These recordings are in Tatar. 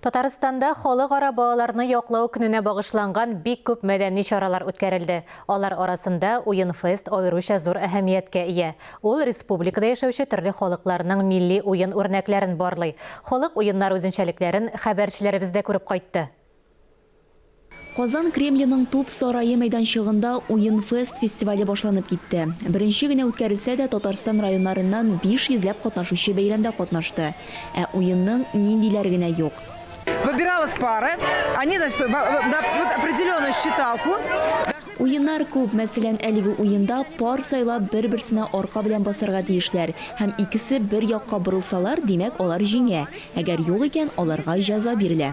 Татарстанда Халыкара балаларны яклау көненә багышланган бик күп мәдәни чаралар үткәрелде. Алар арасында Уен-фест аеруча зур әһәмияткә ия. Ул республикада яшәүче төрле халыкларның милли уен үрнәкләрен барлый, халык уеннары үзенчәлекләрен хәбәрчеләребез дә күреп кайтты. Казан Кремленың Туп сарае мәйданчыгында Уен-фест фестивале башланып китте. Беренче генә үткәрелсә дә, Татарстан районнарыннан биш йөзләп катнашучы бәйрәмдә катнашты. Ә уенның ниндиләре генә юк! Выбиралась пары, они значит вот определенную считалку должны. Уеннар күп, мәсәлән, әлеге уенда пар сайлап бер-берсенә арка белән басарга тиешләр һәм икесе бер якка борылсалар, димәк, алар җиңә, әгәр юк икән, аларга җәза бирелә.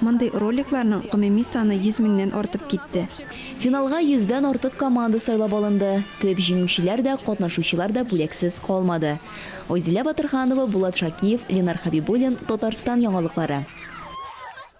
Мондый роликларның гомуми саны 100 меңнән артып китте. Финалга йөздән артык команда сайлап алынды. Төп җиңүчеләр дә, катнашучылар да бүләксез калмады. Айзилә Батырханова, Булат Шакиев, Ленар Хәбибуллин, Татарстан яңалыклары.